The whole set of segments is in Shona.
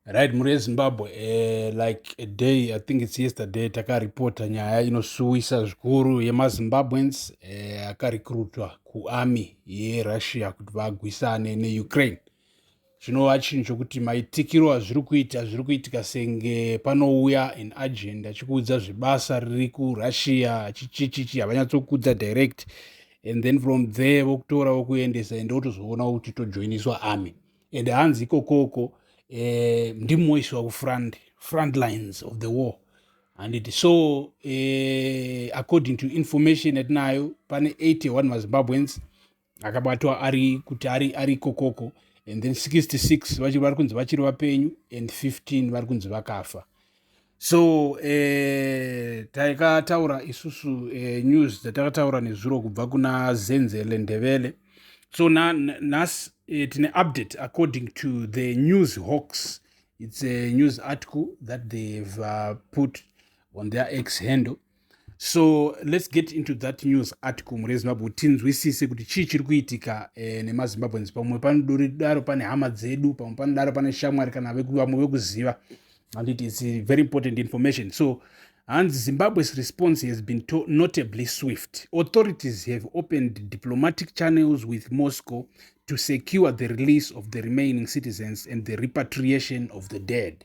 right mhuri yezimbabwe uh, like a day i think its yesterday takaripota nyaya inosuwisa zvikuru yemazimbabweans eh, akarekrutwa uh, kuarmy yerussia kuti vagwisane neukraine zvinova chinhu chokuti maitikiro azviri kuita zviri kuitika senge panouya an agent achikuudza zvebasa riri kurussia achichichichi havanyatsokudza direct and then from there vokutora vokuendesa ende wotozoona kuti tojoiniswa army and hanzi ikokoko um eh, ndimo iswa kufront front lines of the war handiti so uh, according to information yatinayo pane 81 mazimbabweans akabatwa ari kuti ari ari kokoko and then 66 vachiri vari kunzi vachiri vapenyu and 15 vari kunzi vakafa so eh, taikataura isusu eh, news dzatakataura nezuro kubva kuna zenzele ndevele so nhasi eh, tine update according to the news hawks it's a news article that they've uh, put on their ex handle so let's get into that news article mhuri yezimbabwe kuti tinzwisise kuti chii chiri kuitika eh, nemazimbabweans pamwe panodaro pane hama dzedu pamwe panodaro pane shamwari kana vamwe vekuziva handiti its very important information so hanzi zimbabwe's response has been notably swift authorities have opened diplomatic channels with moscow to secure the release of the remaining citizens and the repatriation of the dead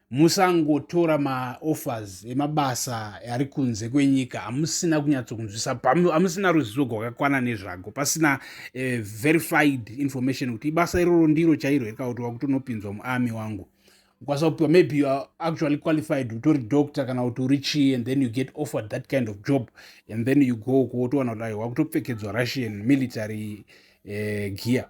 musangotora maoffers emabasa ari kunze kwenyika amusina kunyatsokunzwisa amusina ruzivo gwakakwana nezvago pasina uh, verified information kuti ibasa iroro ndiro chairo here kakuti wakutonopinzwa muarmy wangu ukwanisa kupiwa maybe you are actually qualified utori doctor kana kuti uri chii and then you get offered that kind of job and then you go kuotowana kuti aiwa kutopfekedzwa russian military uh, gear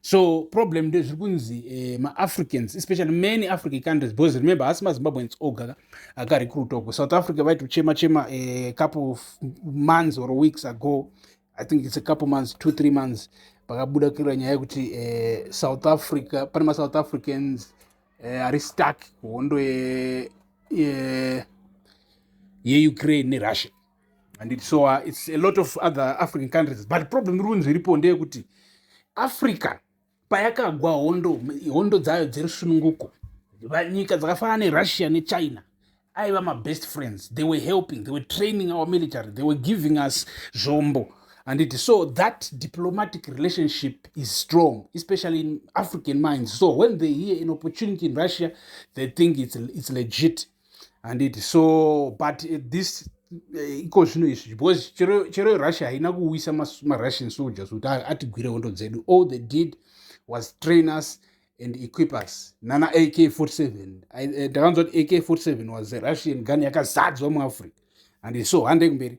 so problem nde zviri kunzi eh, maafricans especially many african countries because remember hasi mazimbabweans oga akarecruta uko south africa vaitochema chema eh, couple of months or weeks ago i think it's a couple months two three months pakabuda kira nyaya yekuti eh, south africa pane masouth africans eh, ari stuck kuhondo yeukraine ye, ye nerussia and it's so uh, it's a lot of other african countries but problem iri kunzi iripo ndeyekuti africa payakagwa hondo hondo dzayo dzerusununguko nyika dzakafanana nerussia nechina aiva mabest friends they were helping they were training our military they were giving us zvombo and it so that diplomatic relationship is strong especially in african minds so when they hear an opportunity in russia they think it's, it's legit handiti so but eh, this eh, iko zvino izvi because chero russia haina kuwisa marussian soldiers kuti atigwire hondo dzedu all they did was train us and equip us nana ak 47 ndakanzwa kuti ak 47 was a russian gun yakazadzwa muafrica and so handei kumberi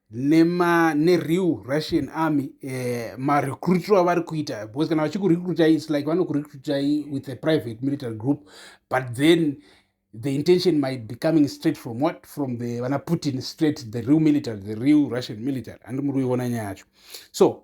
nema nereal russian army eh, marecruiter avari kuita because kana vachikurecruita its like vanokurecruita with a private military group but then the intention might be coming straight from what from the vana putin straight the real military the real russian military andi muri kuiona nyaya yacho so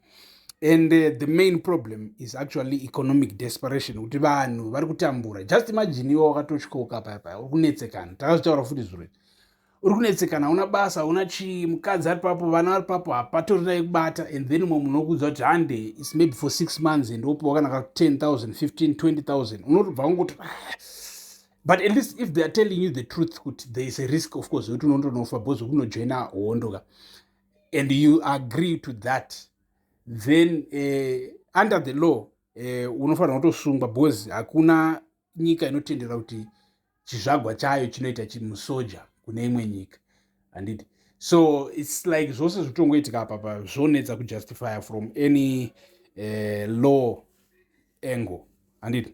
and uh, the main problem is actually economic desperation kuti vanhu vari kutambura just imagine iwe wakatochikoka paya paya uri kunetsekana takazvitaura futi zviro uri kunetsekana hauna basa hauna chii mukadzi ari papo vana vari papo hapatorina yekubata and then umwe munhu okuudza kuti hande its maybe for six months and wopiwa kana ka 10 000 15 20 000 unotobva kungoti ah, but at least if they are telling you the truth kuti there is a risk of course wekuti unotonofa because wekunojoina hondo ka and you agree to that then uh, under the law uh, eh, unofanira kutosungwa because hakuna nyika inotendera kuti chizvagwa chayo chinoita chimusoja kune imwe nyika handiti so its like zvose zvotongoitika apapa zvonetsa kujustifya from any uh, law angle handiti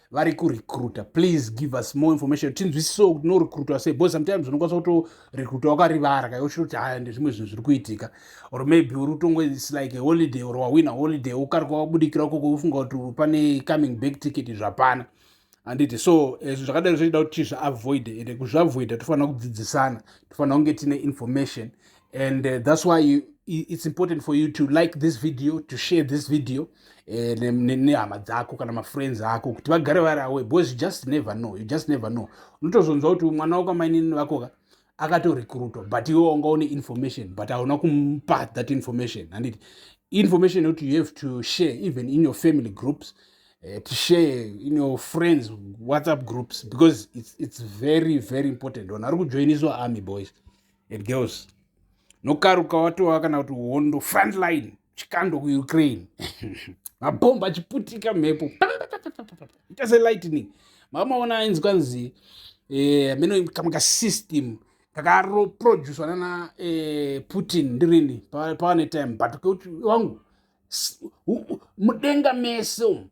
vari kurecruta please give us more information tinzwisisewo kuti norecruta sei because sometimes unokwanisa kutorecruta wakarivara kai uchiri kuti haya ndezvimwe zvinhu zviri kuitika or maybe uri kutongo its like a holiday or wawina holiday ukarika wabudikira ukoko ufunga kuti pane coming back ticket zvapana handiti so eh, zvinhu zvakadai zvochida kuti tizviavoide ende kuzviavoida tofanira kudzidzisana tofanira kunge tine information and uh, that's why you, it's important for you to like this video to share this video eh, nehama dzako kana mafriends ako kuti vagare vari awe because you just never know you just never know unotozonzwa kuti mwana wako amainini vakoka akatorekrutwa but iwe wanga une information but hauna kumupa that information handiti information yekuti you have to share even in your family groups uh, to share in your friends whatsapp groups because it's, it's very very important vanhu vari kujoiniswa army boys and girls nokaruka watova kana kuti hondo frontline chikando kuukraine mabhomba achiputika mhepo ita selightning mamaona ainzi kwanzi eh, ameno kamwe kasystem kakaroproduswa nana eh, putin ndirini pawane time but keuti wangu mudenga mese umu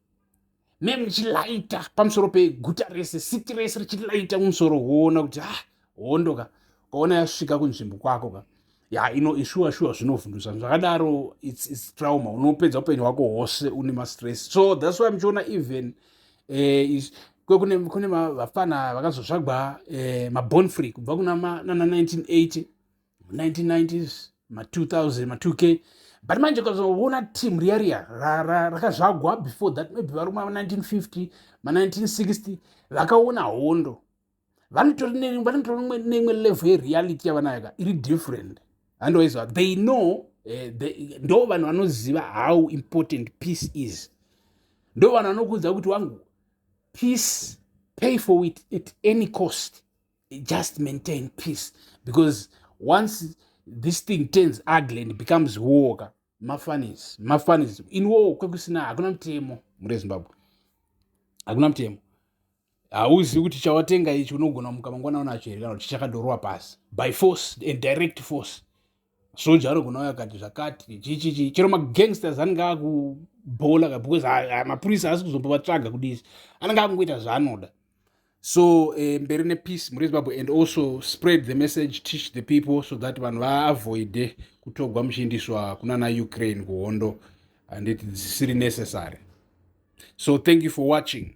me muchilaita pamusoro peguta rese siti rese richilaita mumusoro woona kuti ah hondo ka kaona yasvika kunzvimbo kwako ka ya ino ishuwa shuwa zvinovhundusa zvakadaro its, its trauma unopedza upenyu hwako hwose une mastress so thats why muchiona even eh, kwekune kune vafana vakazotsvagwa eh, mabon free kubva kuna nana 1980 1990s ma 2000 ma 2k but manje ukazoona team riya riya rakazvagwa before that maybe vari kuma 1950 ma 1960 vakaona hondo vanotori neimwe level yereality yavanayo ka iri different handowaizwa they know eh, ndo vanhu vanoziva how important peace is ndo vanhu vanokuudza kuti wangu peace pay for it at any cost just maintain peace because once this thing turns ugly and becomes war ka mafanis mafanis in war kwekusina hakuna mutemo mure zimbabwe hakuna mutemo hauzivi kuti chawatenga ichi unogona muka mangwana unacho here kana kuti chakadorwa pasi by force and direct force soja anogona uya akati zvakati chichichi chero magangsters anenge akubhola ka because mapurisa asi kuzombovatsvaga kudisi anenge akungoita zvaanoda so eh, mberi um, nepeace muri zimbabwe and also spread the message teach the people so that vanhu vaavoide kutogwa muchiindiswa kunana ukraine kuhondo handiti dzisiri necessary so thank you for watching